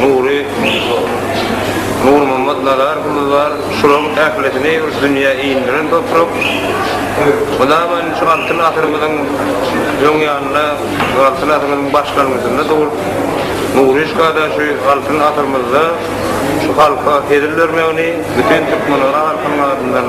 Nury Nurmammet Nazarowymyz bar. Şularyň ählisini bir dünýä indiren toprak. Hudaýman şu Altyn asyrymyzyň öň ýanynda, Altyn asyrymyzyň başlangyjynda doglup, Nuryşkada şu Altyn asyrymyzda şu halka hezil bermegini bütin türkmen halkynyň adyndan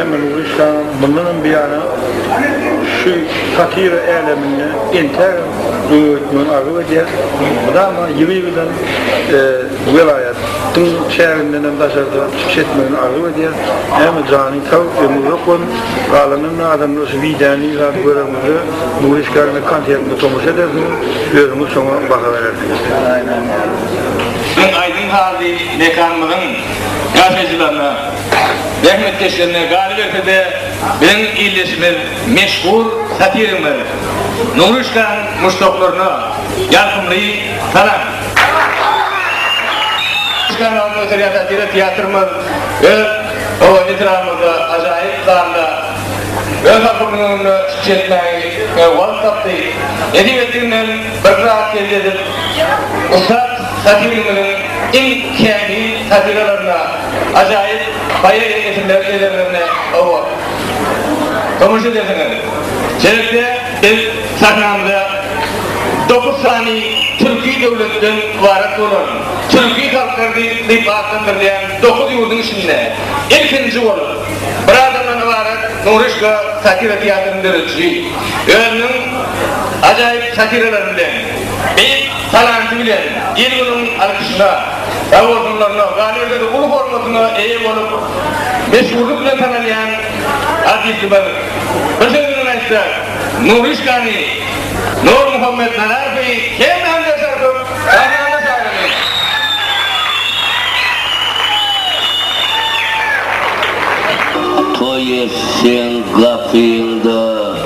Emma Nury şam mundan hem biýana şu satira äleminde entägem öňe gitmegini arzuw edýär. Mydama ýygy-ýygydan welaýatyň çäginden hem daşarda çykyş etmegini arzuw edýär. Emma janyň sag, ömri uzak bolsun. Galanynda adamlar şu wideony ýygnap görenimizde Nury Işgäriňiň konsertine tomaşa edersiňiz, özüňiz şoňa baha berersiňiz. Biziň aýdym-sazly mekanymyzyň ýaşaýjylaryna. Zähmetkeşlerine galyberse-de, biziň ildeşimiz meşhur satirimiz Nury şkaň muşdaklaryna ýarkymly salam! Şkaň alyp göterýän satira teatrymyz öz howa etrabymyzda ajaýyp zalda öz halkymyzyň öňünde çykyş etmäge wagt tapdy. Nesip etdiginden bir zat elde edip, ussat. Satyrymyzyň iň kämil satyralaryna, ajaýyp poeziýa eserleri eserlerine oba tomaşa edersiňiz. Şeýlelikde, biz sahnamyza dokuz sany türki döwletden ybarat bolan, türki halklar diýip atlandyrylýan dokuz ýurduň içinde ilkinji bolup, bir adamdan ybarat Nuryşka satyra teatryny dörediji, özüniň ajaýyp satyralary bilen, Beýik talanty bilen il-günüň alkyşyna, sag-bolsunlaryna, galyberse-de uly hormatyna eýe bolup, meşhurlyk bilen tanalýan artistimiz, bir söz bilen aýtsak, Nuryşkany, Nurmuhammet Nazarowy hemmämiz ýaşar köp sahnamyza çagyrýarys. Toý etseň gapyňda.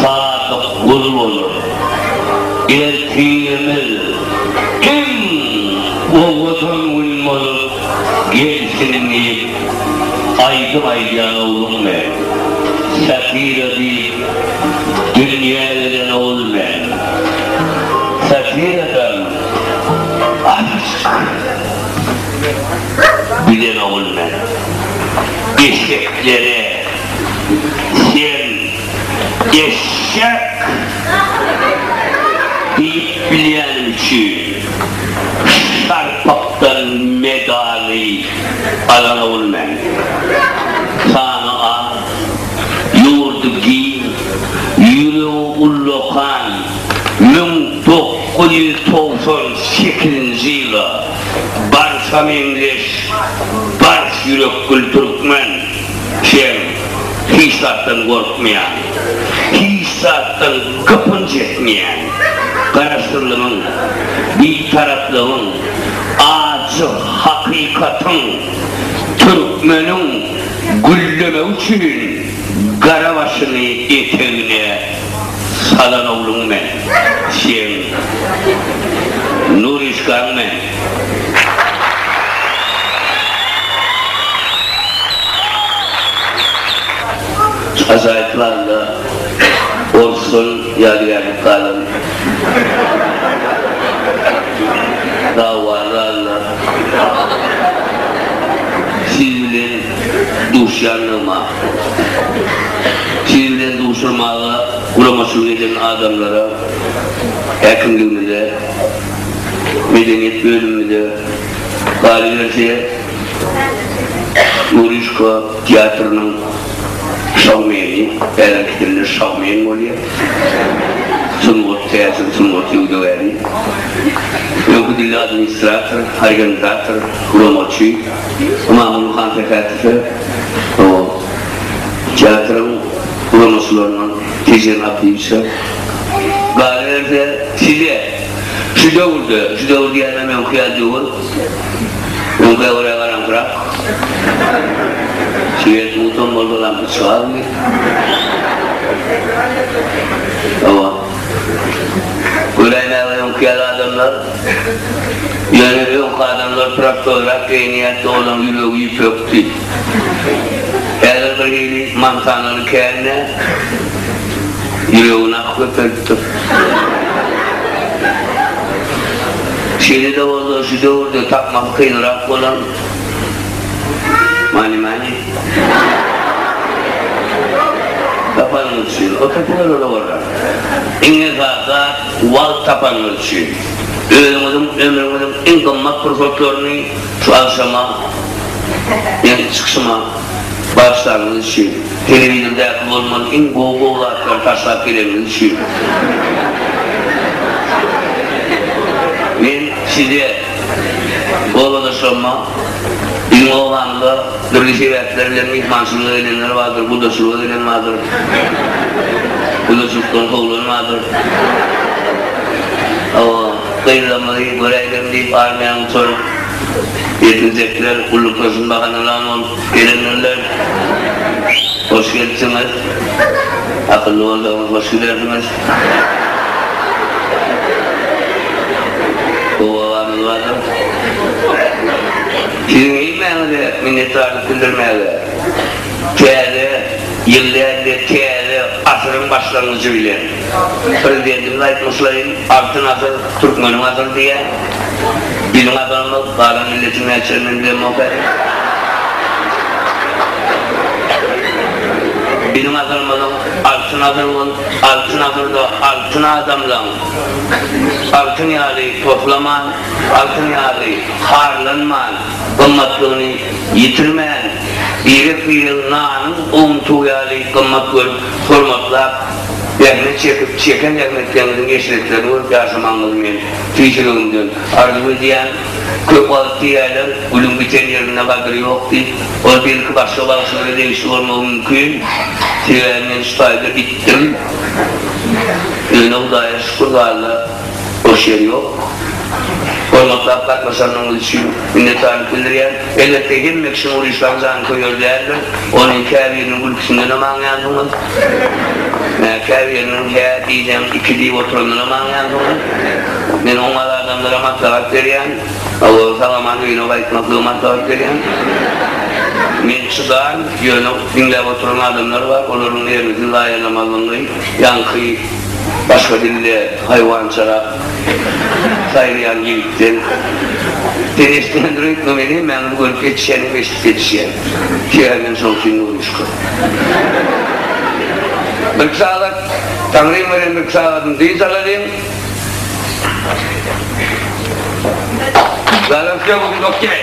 Sadyk gul bolar. Ertirimiz iň owadan gün bolup gelsin diýip aýdym aýdýan ogluň men. Safira diýip dünýä gelen ogul men. Safiradan aşk bilen ogul men. Eşeklere. Sen eşek! diýip bilýänim üçin Şarpakdan medaly alan ogul men. Sany az, ýurdy giň, ýüregi ullakan müň dokuz ýüz togsan sekizinji ýyla barsa meňzeş, barç ýürekgül türkmen! Sen hiç zatdan gorkmaýan, hiç zatdan gypynç etmeýän, garaşsyzlygyň, bitaraplygyň, ajy hakykatyň, türkmeniň güllemegi üçin gara başyny etegine salan ogluň men. Sen Nuryşkaň men. Ajaýyp planda ol şol ýadygärlik galan dawany alna siz bilen duşýandygyma, siz bilen duşamaga guramaçylyk eden adamlara, häkimligimize, Medeniýet bölümimize, galyberse, Murýuşka teatrynyň şoumeni, häzirki dilde şoumen bolýar, sungat, täsin sungat söwdagäri, öňki dilde administrator, orgenzator, guramaçy Ymamguly Hansähätowe, teatryň guramaçylaryndan Tejen Abdyýewiçe, Galyberse, size, şu döwürde, şu döwür diýýänem öňki ýaly döwür, öňkä görä garaňkyrak, şiwer suwsam bolsalam bir çygarmy? Hawa. Göräýmäge öňki ýaly adamlar, ýöne öňki adamlar prostoýrak geýinýärdi, olaryň ýüregi ýüpekdi. Häzir bir hili mantanany kände ýüregini ak köpelipdir. Şeýle-de bolsa, şu döwürde tapmasy kynrak bolan many-many tapanyňyz üçin, o tepeler ola bolýar. Iň esasy zat, wagt tapanyňyz üçin. Özüňiziň ömrüňiziň iň gymmat pursatlaryny Şu agşama meniň çykyşyma bagyşlanyňyz üçin, telewizoridäki bolmaly iň gowy gowy zatlary taşlap geleniňiz üçin. Men size we obadaşlarma biziň obamyza dürli sebäpler bilen myhmançylyga gelenler bardyr, gudaçylyga gelen bardyr. Gudaçylykdan kowlan bardyr. Hawa. Gyzlarymyzy göräýlerin diýip armiýanyň çor ýetginjekler ullukasyn bahanalan bolup gelendirler. Hoş gelipsiňiz. Akylly bolsaňyz hoş gidersiňiz. Gowy gabamyz bardyr. Siziň hemmäňize minnetdarlyk bildirmäge. Täze ýyl däl-de täze asyryň başlangyjy bilen. Prezidentimiz aýtmyşlaýyn, Altyn asyr, türkmeniň asyry diýýär. Biziň asyrymyz, galan milletiň näçe men bilemok häzir. Biziň asyrymyzyň altyn asyr bolup, altyn asyrda altyn adamlaň altyn ýaly toslaman, altyn ýaly harlanman, gymmatlygyny ýitirmän, birek-biregiň nanyň owuntugy ýaly gymmat görüp, hormatlap, Zähmet çekip, çeken zähmetleňiziň eşretlerini görüp ýaşamagyňyzy men tüýs ýüregimden arzuw edýän. Köp wagt diýýärler, Gülüň biten ýerinde gadyr ýok diýip. Ol belki başga bagşylara degişli bolmagy mümkin. Sebäbi men şu taýda bitdim. Ýöne Hudaýa şükür zalda boş ýer ýok. Hormatlap gatnaşanyňyz üçin minnetdarlyk bildirýän. Elbetde, hemme kişiniň uryşlaň jany köýer däldir. Ony käbiriniň gülküsindenem aňýansyňyz. Käbiriniň hä diýseň, iki diýip oturandanam aňýansyňyz. Men oňat adamlara maslahat berýän. Hawa, sag-aman öýüne gaýtmaklygy maslahat berýän. Men çydan, ýöne diňläp oturan adamlar bar, olaryň ýerini siz zaýalamazlygyňy, ýaňky başga dilde, haýwançarak. saýlaýan ýigitden dereşden rykma men hem mäňli görüp ýetişýän hem eşidip ýetişýän tüýä men şoň üçin nurmuşka birki sagat taňryň beren birki sagadyny dynç alalyň zagrepge bu gün okýaý.